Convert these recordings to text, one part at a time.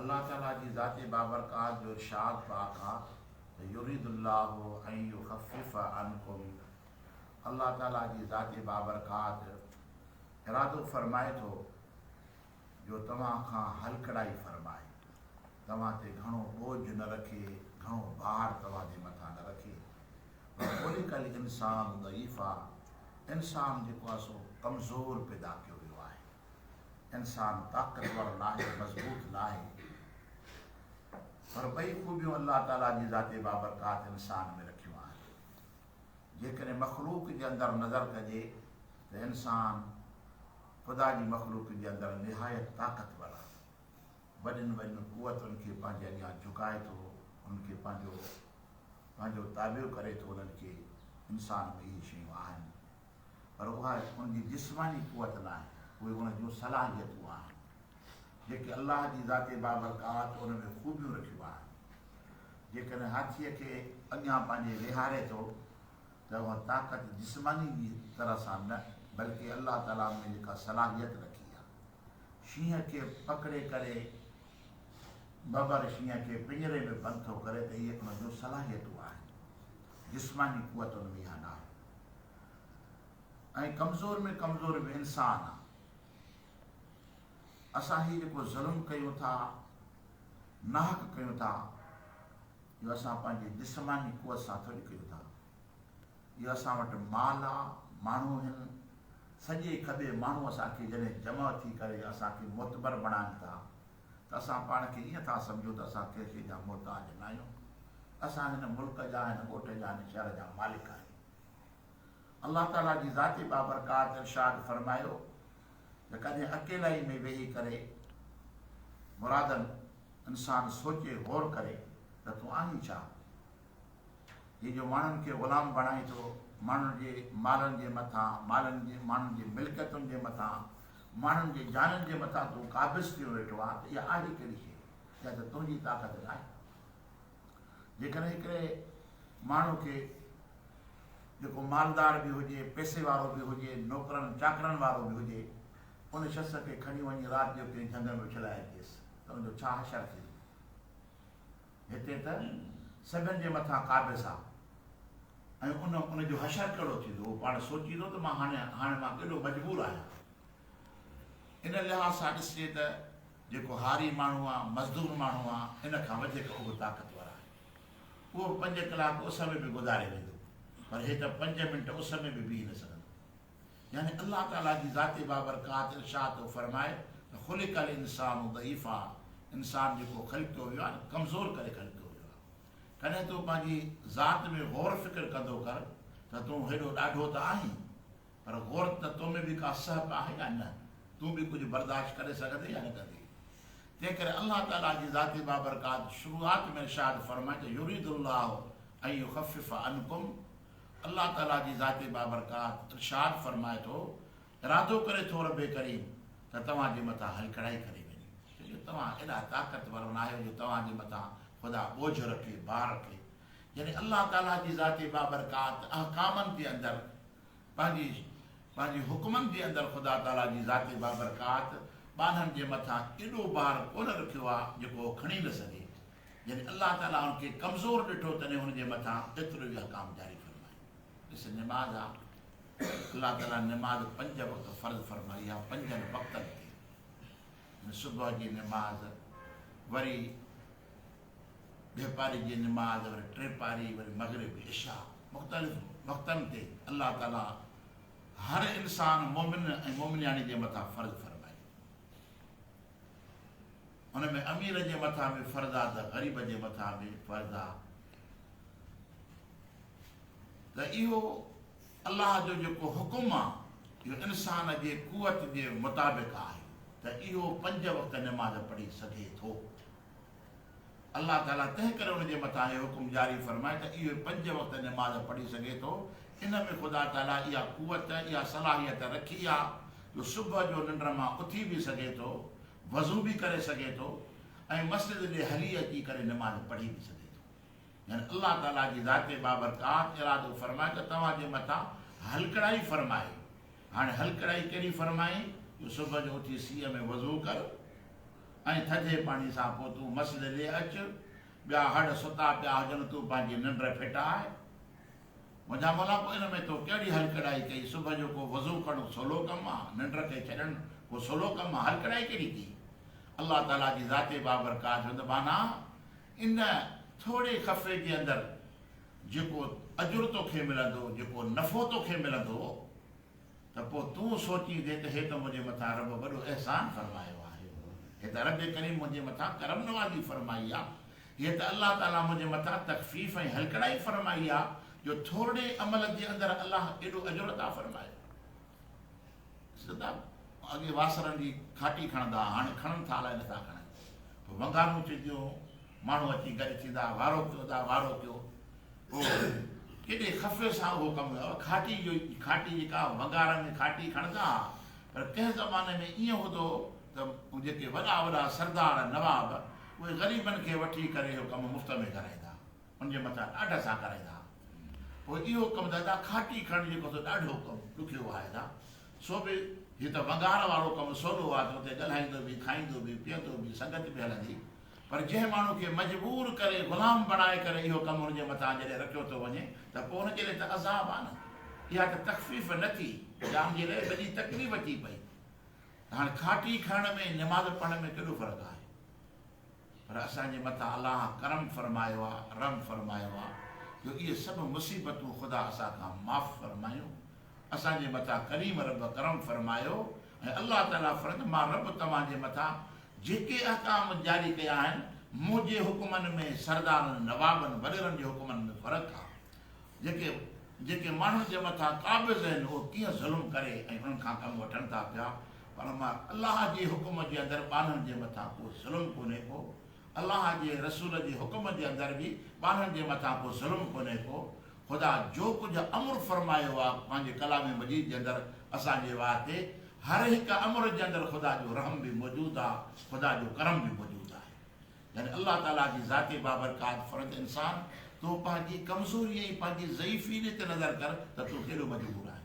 الله تعالي جي ذات بابرڪات جو ارشاد پاڪ آ ته يريد الله ان يخفف عنڪم الله تعالي جي ذات بابرڪات ارادو فرمائي ٿو جو توهان کان هلڪڙائي فرمائي، توهان تي گهڻو ٻوجهه نه رکي، گهڻو بار توهان جي مٿان نه رکي. وخلق الانسان ضعيفا انسان جيڪو آ سو ڪمزور پيدا ڪيو ويو آهي. انسان طاقتور ناهي مضبوط ناهي پر ٻئي خوبيون الله تعالي جي ذات بابرڪات انسان ۾ رکيون آهن جيڪڏهن مخلوق جي اندر نظر ڪجي ته انسان خدا جي مخلوق جي اندر نهايت طاقتور آهي وڏين وڏين قوتن کي پنهنجي اڳيان جهڪائي ٿو ان کي پنهنجو پنهنجو تابع ڪري ٿو انهن کي انسان ۾ اهي شيون آهن پر اها ان جي جسماني قوت ناهي، اهي ان جون صلاحيتون آهن، جيڪي الله جي ذات بابرڪات ان ۾ خوبيون رکيون آهن. جيڪڏهن هاٿيء کي اڳيان پنهنجي ويهاري ٿو ته اها طاقت جسماني جي طرح سان نه، بلڪه الله تعاليٰ ان ۾ جيڪا صلاحيت رکي آهي، شينهن کي پڪڙي ڪري ببر شينهن کي پڃري ۾ بند ٿو ڪري ته اهي ان جون صلاحيتون آهن، جسماني قوت ان ۾ اها ناهي. ۽ ڪمزور ۾ ڪمزور به انسان آ. اسان هي جيڪو ظلم ڪيون ٿا، ناحق ڪيون ٿا، اهو اسان پنهنجي جسماني قوت سان ٿوري ڪيون ٿا. اهو اسان وٽ مال آ، ماڻهو هن، سڄي کٻي ماڻهو اسان کي جڏهن جمع ٿي ڪري اسان کي معتبر بڻائن ٿا، ته اسان پاڻ کي ائين ٿا سمجهون ته اسان ڪنهن شيء جا محتاج نه آهيون، اسان هن ملڪ جا، هن ڳوٺ جا، هن شهر جا مالڪ آهيون. الله تعاليٰ جي ذات بابرڪات ارشاد فرمايو ته ڪڏهن اڪيلائي ۾ ويهي ڪري مرادن انسان سوچي غور ڪري ته تون آهين ڇا؟ هي جو ماڻهن کي غلام بڻائي ٿو، ماڻهن جي مالن جي مٿان، مالن جي ماڻهن جي ملڪيتن جي مٿان، ماڻهن جي جانن جي مٿان تون قابض ٿيو ويٺو آهين ته اها آهي ڪهڙي شيء جا ته تنهنجي طاقت ناهي. جيڪڏهن هڪڙي ماڻهو کي جيڪو مالدار به هجي، پئسي وارو به هجي، نوڪرن چاڪرن وارو به هجي، ان شخص کي کڻي وڃي رات جو ڪنهن جهنگ ۾ اڇلائي اچيس ته ان جو ڇا حشر ٿيندو؟ هتي ته سگن جي مٿان قابض آ ۽ ان ان جو حشر ڪهڙو ٿيندو هو پاڻ سوچيندو ته مان هاڻي هاڻي مان ڪيڏو مجبور آهيان ان لحاظ سان ڏسجي ته جيڪو هاري ماڻهو آ مزدور ماڻهو آ ان کان وڌيڪ اهو طاقتور آهي اهو پنج ڪلاڪ اس ۾ به گذاري ويندو پر هي ته پنج منٽ اس ۾ به بيهي نه سگهندو يعني الله تعالي جي ذات بابرڪات ارشاد ٿو فرمائي ته خلق الانسان ضعيفا انسان جيڪو خلقيو ويو آهي نه ڪمزور ڪري خلقيو ويو آهي ڪڏهن تون پنهنجي ذات ۾ غور فڪر ڪندو ڪر ته تون هيڏو ڏاڍو ته آهين پر غور ته تو ۾ به ڪا سهپ آهي يا نه تون به ڪجهه برداشت ڪري سگهندي يا نه ڪندي تنهن ڪري الله تعالي جي ذات بابرڪات شروعات ۾ ارشاد فرمائي ته يريد الله ان يخفف عنڪم الله تعالي جي ذات بابرڪات ارشاد فرمائي ٿو، ارادو ڪري ٿو ربّ ڪريم ته توهان جي مٿان هل ڪڙهائي ڪري وڃي، ڇو جو توهان ايڏا طاقتور ناهيو جو توهان جي مٿان خدا ٻوجهه رکي، بار رکي. يعني الله تعالي جي ذات بابرڪات احڪامن جي اندر پنهنجي پنهنجي حڪمن جي اندر خدا تعالي جي ذات بابرڪات ٻانهن جي مٿان ايڏو بار ڪونه رکيو آهي جيڪو هو کڻي نه سگهي. جڏهن الله تعاليٰ ان کي ڪمزور ڏٺو تڏهن ان جي مٿان ايترو ئي احڪام جاري فرمايو. ڏس نماز آ الله تعاليٰ نماز پنج وقت فرض فرمائي آ پنجن وقتن تي يعني صبح جي نماز وري ٻي پاري جي نماز وري ٽي پاري وري مغرب عشاء مختلف وقتن تي الله تعاليٰ هر انسان مومن ۽ مومنياڻي جي مٿان فرض فرمائي ان ۾ امير جي مٿان به فرض آ ته غريب جي مٿان به فرض آ ته اهو الله جو جيڪو حڪم آ اهو انسان جي قوت جي مطابق آهي ته اهو پنج وقت نماز پڙهي سگهي ٿو الله تعاليٰ تنهن ڪري ان جي مٿان هي حڪم جاري فرمائي ته اهو پنج وقت نماز پڙهي سگهي ٿو، ان ۾ خدا تعاليٰ اها قوت، اها صلاحيت رکي آ جو صبح جو ننڊ مان اٿي به سگهي ٿو، وضو به ڪري سگهي ٿو ۽ مسجد ڏي هلي اچي ڪري نماز پڙهي به سگهي ٿو. يعني الله تعاليٰ جي ذات بابرڪات ارادو فرمائي ته توهان جي مٿان هلڪڙائي فرمائي، هاڻي هلڪڙائي ڪهڙي فرمائي جو صبح جو اٿي سيء ۾ وضو ڪر، ۽ ٿڌي پاڻي سان پوء تون مسجد ڏي اچ، ٻيا هڙ ستا پيا هجن، تون پنهنجي ننڊ ڦٽاء. منهنجا مولا پوء ان ۾ تو ڪهڙي هلڪڙائي ڪئي، صبح جو ڪو وضو ڪرڻ سولو ڪم آ، ننڊ کي ڇڏڻ ڪو سولو ڪم آ، هلڪڙائي ڪهڙي ڪئي. الله تعاليٰ جي ذات بابرڪات هوند ٻانها ان ٿوري خفي جي اندر جيڪو اجر توکي ملندو، جيڪو نفعو توکي ملندو، ته پوء تون سوچيندين ته هي ته منهنجي مٿان رب وڏو احسان فرمايو آهي. هي ته رب ڪريم منهنجي مٿان ڪرم نوازي فرمائي آ. هيء ته الله تعاليٰ منهنجي مٿان تخفيف ۽ هلڪڙائي فرمائي آ جو ٿورڙي عمل جي اندر الله ايڏو اجر عطا فرمايو. سردار اڳي واسرن جي کاٽي کڻندا ها، هاڻي کڻن ٿا الائي نٿا کڻن. پوء ونگارون چونديون هون. ماڻهو اچي گڏ ٿيندا ها، وارو ڪيو، ادا وارو ڪيو. او هي! ڪيڏي خفي سان اهو ڪم ڪيو اٿئي. کاٽي جو ئي کاٽي جيڪا وگارن ۾ کاٽي کڻندا ها پر ڪنهن زماني ۾ ائين هوندو هو ته هو جيڪي وڏا وڏا سردار، نواب، اهي غريبن کي وٺي ڪري اهو ڪم مفت ۾ ڪرائيندا ها. ان جي مٿان ڏاڍ سان ڪرائيندا ها. پوء اهو ڪم دادا کاٽي کڻڻ جيڪو سو ڏاڍو ڪم ڏکيو هو هائي دان. سو به هي ته وگار وارو ڪم سولو آ ته اتي ڳالهائيندو به، کائيندو به، پيئندو به، سنگت به هلندي. پر جنهن ماڻهو کي مجبور ڪري غلام بڻائي ڪري اهو ڪم ان جي مٿان جڏهن رکيو ٿو وڃي ته پوء ان جي لاء ته عذاب آهي نه اها ته تخفيف نه ٿي جا ان جي لاء وڏي تڪليف ٿي پئي ته هاڻي کاٽي کڻڻ ۾ نماز پڙهڻ ۾ ڪيڏو فرق آهي پر اسان جي مٿان الله ڪرم فرمايو آهي رحم فرمايو آهي جو اهي سڀ مصيبتون خدا اسان کان معاف فرمايون اسان جي مٿان ڪريم رب ڪرم فرمايو ۽ الله تعاليٰ فرمائي ٿو، مان رب توهان جي مٿان جيڪي احڪام جاري ڪيا آهن، منهنجي حڪمن ۾ سردارن، نوابن، وڏيرن جي حڪمن ۾ فرق آ. جيڪي جيڪي ماڻهن جي مٿان قابض آهن اهي ڪيئن ظلم ڪري ۽ انهن کان ڪم وٺن ٿا پيا، پر مان الله جي حڪم جي اندر ٻانهن جي مٿان ڪو ظلم ڪونهي ڪو. الله جي رسول جي حڪم جي اندر به ٻارن جي مٿان ڪو ظلم ڪونهي ڪو، خدا جو ڪجهه امر فرمايو آ پنهنجي ڪلام مجيد جي اندر اسان جي واسطي هر هڪ امر جي اندر خدا جو رحم به موجود آ خدا جو ڪرم به موجود آهي يعني الله تعالي جي ذات بابرڪات فرد انسان تون پنهنجي ڪمزوري ۽ پنهنجي ضعيفي تي نظر ڪر ته تون ڪيڏو مجبور آهين.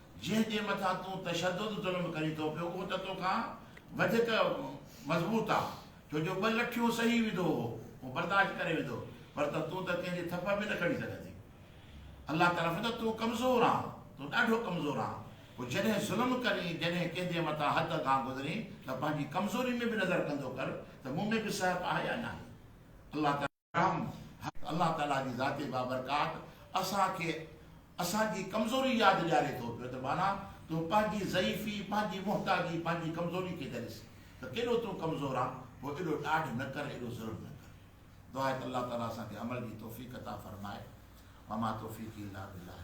جنهن جي مٿان تون تشدد ظلم ڪرين ٿو پيو اهو ته توکان وڌيڪ مضبوط آ ڇو جو ٻه لٺيون سهي ويندو اهو اهو برداشت ڪري ويندو پر ته تون ته ڪنهن جي ٿڦ به نه کڻي سگهين ٿي الله طرف ته تون ڪمزور آن تون ڏاڍو ڪمزور آن پوء جڏهن ظلم ڪرين جڏهن ڪنهن جي مٿان حد کان گذرين ته پنهنجي ڪمزوري ۾ به نظر ڪندو ڪر ته مون ۾ به سهپ آهي يا ناهي الله تعالي رحم، الله تعاليٰ جي ذات بابرڪات اسان کي اسان جي ڪمزوري ياد ڏياري ٿو پيو ته معنيٰ تون پنهنجي ضعيفي، پنهنجي محتاجي، پنهنجي ڪمزوري کي ته ڏس ته ڪيڏو تون ڪمزور آن، پوء ايڏو ڏاڍ نه ڪر، ايڏو ظلم نه ڪر. دعا آهي ته الله تعاليٰ اسان کي عمل جي توفيق عطا فرمائي. وما توفيقي الا بالله.